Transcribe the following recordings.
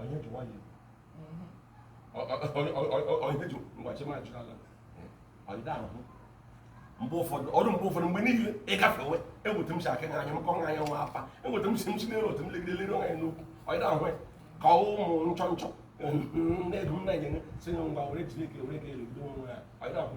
onye ji nwayọ onye ji ngwachi ma jụrụ ala ọdịda ahụ mgbe ụfọdụ ọrụ mgbe ụfọdụ mgbe niile ịgafewe eweta m si aka anya m kọ nwa anya nwa afa eweta m si m si n'elu otu m legide lere anya n'okwu ọdịda ahụ ka ụmụ nchọ nchọ na-edu m na-enye si na ngwa were jiri ike were ga-elegide onwe ya ọdịda ahụ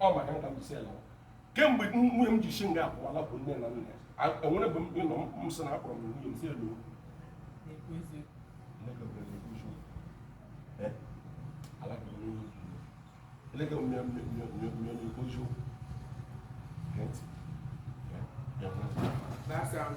ọ maka nke a m ji sị ya lawa kemgbe nwunye m ji si nga a pụwa lakwu nne na nna ya enwere bụ mgbe nọ m sị na akpọrọ m nwunye m sị hello elege m na-ekwu eziokwu That's um.